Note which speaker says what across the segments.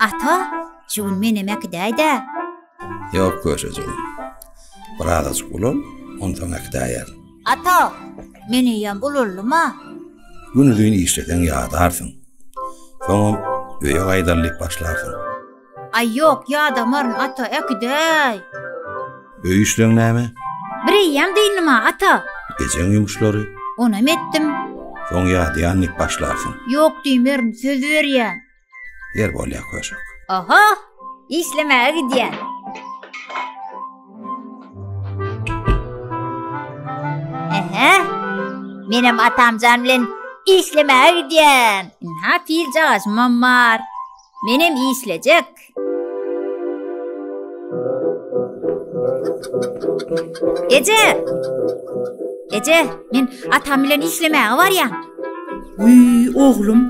Speaker 1: Ata, şu gün menem äkidäýdä. Ýok, köşejik. Bir azajyk ulan, onsoň äkidäýer. Ata, men eýýäm ulanlym-a. Günuzyn işleseň ýadarsyň. Soňam öýe gaýdal diýip başlarsyň. Aý ýok, ýadamaryn, ata, äkidäý! Öý işleň näme? Bir eýýäm dyndyma, ata. Ejeň ýumuşlary? Onam etdim. Soň ýadýan dik başlarsyň. Ýok diýmerin, söz berýän. Ýer bolýa köşek. Oho! Işlemäge gidýän. Ehe! Menem atamjan bilen işlemäge gidýän. Ynha, piljagaşymam bar. Menem işlejek. Eje! Eje, men atam bilen işlemäge barýan. Uý, oglum,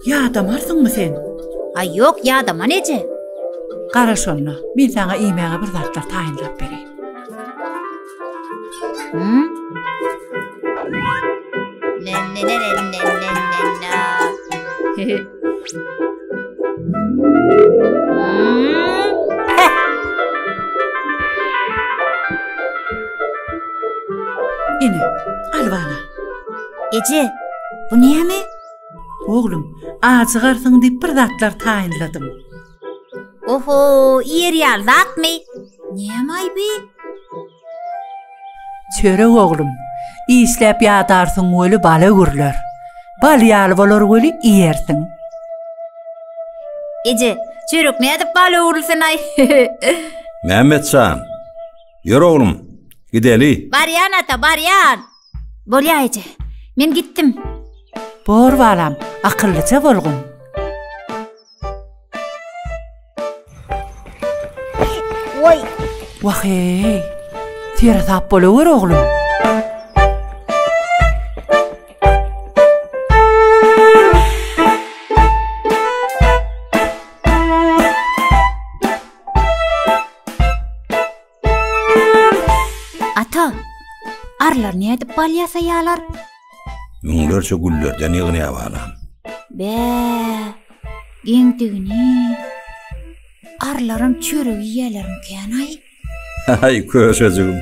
Speaker 1: ýadamarsyňmy sen? Aý, ýok, ýadaman eje. Gara şonda, men saňa iýmäge bir zatlar taýynlap bereýin. Eje, bu näme? Oglum, ajygarsyň diýip bir zatlar taýynladym. Oho, iýer ýaly zatmy? Nämaý bi? Çörek oglum, işläp ýadarsyň weli bala gürler. Bal ýaly bolar weli iýersiň. Eje, çörek nädip bal öwrülsin-aý? Mämmet jan, ýör oglum, gideli. Barýan ata, barýan. Bolýa eje, men gitdim. Bor balam, akyllyja bolgun. Wah-eý! Tire tap bolawer, oglum! Ata, arlar nädip bal ýasaýarlar? Müňlerçe güllerden ýygnaýar balam. Bä, geňdigini. Arlaram çörek iýerlermikänaý? Haý, köşejigim.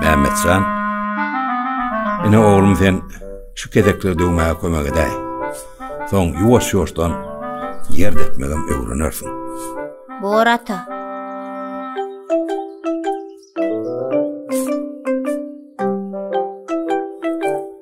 Speaker 1: Mämmetjan, ine oglum sen şu kezekleri döwmäge kömek edäý. Soň ýuwaş-ýuwaşdan ýer depmegem öwrenersiň. Bor ata.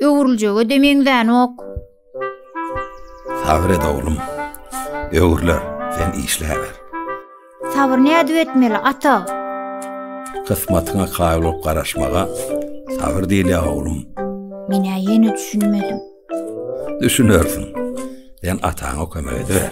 Speaker 1: Öwrüljege-de meňzänok. Sabyr et, oglum. Öwrüler, sen işläber. Sabyr nädip etmeli, ata? Kysmatyňa kaýyl bolup garaşmaga sabyr diýilýär, oglum. Men-ä ýene düşünmedim. Düşünersiň. Sen ataňa kömek ediber.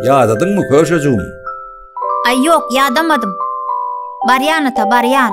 Speaker 1: Ýadadyn mı köşejigim? Ay yok yadamadım. Baryan ata baryan.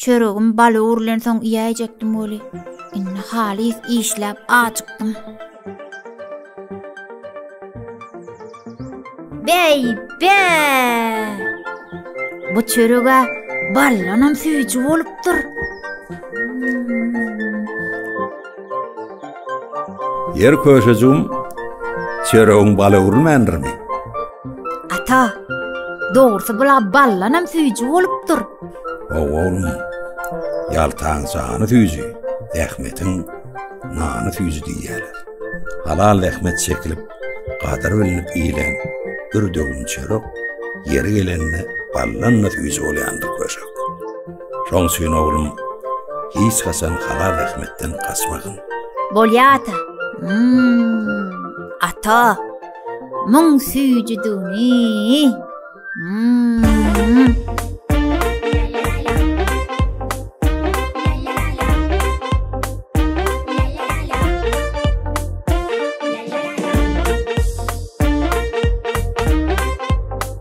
Speaker 1: Çöregim baly urlensoň iýäýjekdim weli, indi halys işläp ajykdym. Bäý, bä! Bu çörege ballanam süýji bolupdyr. Ýer köşejigim, çöregiň bala urulmändirmi? Ata, dogrusy bula ballanam süýji bolupdyr. Oglum, ýaltaň jany süýji, zähmetiň nany süýji diýýärler. Halal zähmet çekilip, gadyr bilinip iýilen bir döwüm çörek ýeri gelende ballanla süýji bolýandyr köşek. Şoň üçin oglum, hiç haçan halal zähmetden gaçmagyn. Bolýa ata. Hmm, ata. Muň süýji düni. Hmm.